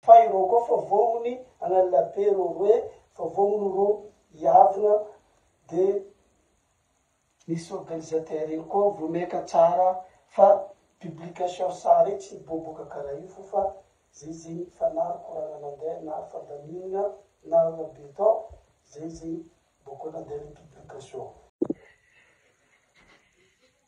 Fa ireo koa fa vognony an'Allabe ireo roe fa vognony ireo hiavona de misy organisateur iny koa vomekan tsara fa publication sary iny tsy miboboka karaha io fo fa zay zay fa na ry koragna nandeha na ry fandaminana na ry rabe tao zay zay boko nandeha le publication.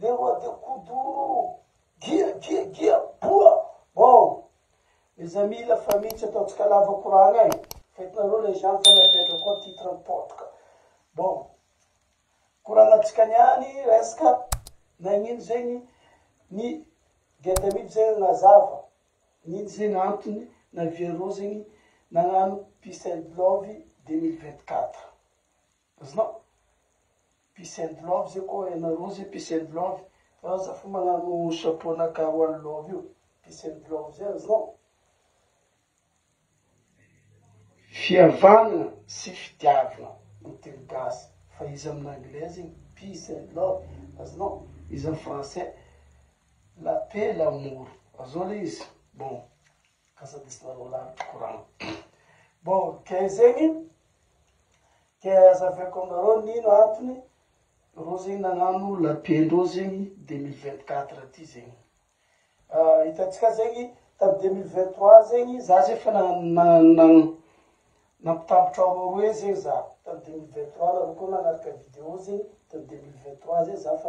Le roi de kuduro Gia gia gia boa Bon mes amis la famille tsy ataontsika lava koragna e fa hitanareo le Jean fa miapetra koa titre mipotika Bon koragnantsika niany resaka nagnino zegny ny dia tamidy zegny nazava nino zegny antony naviareo zegny nagnano peace and love deux mille vingt quatre. Azonao? Peace and love zay koa ianareo zay peace and love fa za fo magnano chapeau na ka one love io peace and love zay azonao? Fihavana sy fitiavana no teny gasy fa iza amina anglais zegny peace and love azonao? Iza am français la paix l'amour azonao le izy bon. Kasa diso nareo lahy tokoa raha. Bon, ke zegny, ke hazaveko aminareo nino antony, reo zegny nagnano la paix ndreo zegny deux mille vingt quatre ty zegny. Hitantsika zegny tamy deux mille vingt trois zegny, za zay fa na- na- na- nampitambotr' areo roe zegny za, tamy deux mille vingt trois nareo koa nagnaraka video zegny, tamy deux mille vingt trois zegny za fa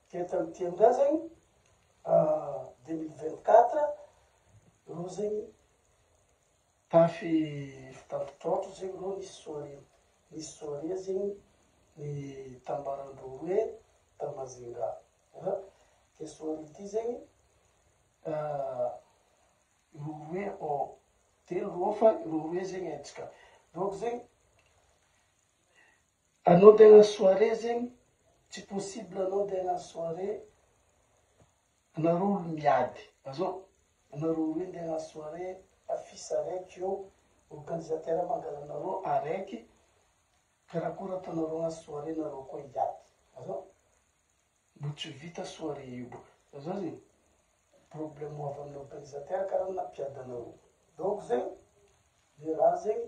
Eto amin'ny tendrens zegny en 2024 reo zegny tafy fitampitrotro zegny reo nisy soirée nisy soirée zegny ny tambaran-dreo roe ta Majunga an ty soirée ty zegny reo roe ô telo reo fa reo roe zegny hentitra reo ko zegny Anao dia hagnano soirée zegny tsy possible anao dia hagnano soirée anareo olo miady azao anareo roy ndeha hagnano soirée affiche araiky eo organisateur mangalanareo araiky karakôry ataonareo hagnano soirée nareo koa hiady azao mbo tsy vita soirée io boka azao zegny problème ho avy amin'ny organisateur kara na mpiady anareo donc zegny le raha zegny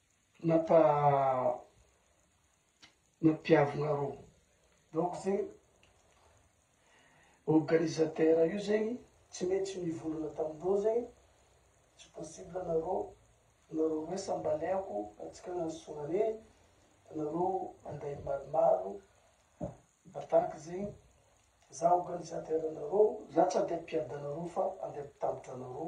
Nata nampiavona ro donc zegny organisateur io zegny tsy maintsy mivolagna tamindreo zegny tsy possible anareo anareo roe sambaleako atsika agnano soirée anareo andeha maromaro attaque zegny za organisateur nareo za tsy andeha ampiadanareo fa andeha ampitambotra anareo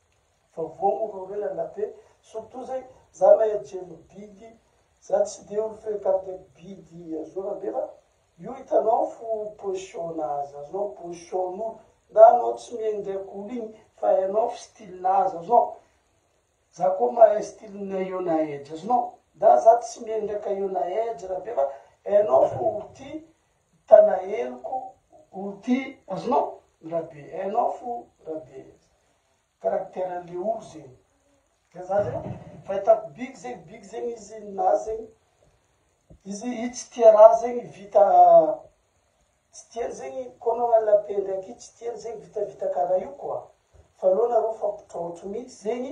Vao vao moa vao hoe Anapé, surtout zay za lay adjeno bidy, za tsy de olo frekante bidy azona be fa io hitanao fo position nazy, azonao position nolo na anao tsy mihaino ndraiky olo igny fa hainao fo style nazy azonao, za koa mahay style ny Iona Edge azonao, na za tsy mihaino ndraiky Iona Edge rabe fa hainao fo olo ty Mpanaheriko o ty azonao ndra be hainao fo ndra be caractère le olo zegny de za zegny fahitako bigy zegny bigy zegny izy ninazy zegny izy i tsy tia raha zegny vita tsy tiany zegny koa anao hanala paix ndraiky i tsy tiany zegny vitavita karaha io quoi fa aleo nareo mifampitraotro mitsy zegny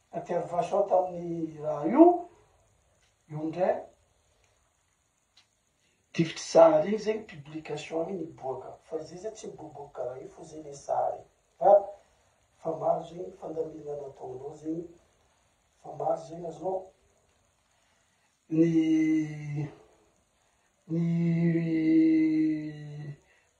Intervention tamin'ny raha io, io ndray difotry sary iny zegny publication iny miboaka fa izy zay tsy miboboka karaha io fa zay le sary fa fa maro zegny fandaminana nataonao zegny fa maro zegny azonao ny ny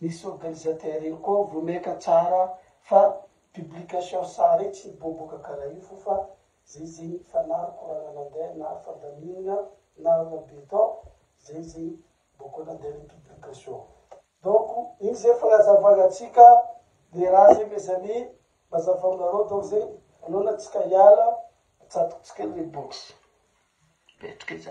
Nisy organisateur io koa vomeca tsara fa publication sary tsy miboboka karaha io fo fa zay zay fa na rkorana nandeha na fandaminana na rona beton zay zay boko nandeha le publication donc iny zay fagnazavana antsika le raha zay mes amis mazava aminareo donc zay anao na tsika hiala atsatokotsika le box apetraka etsy.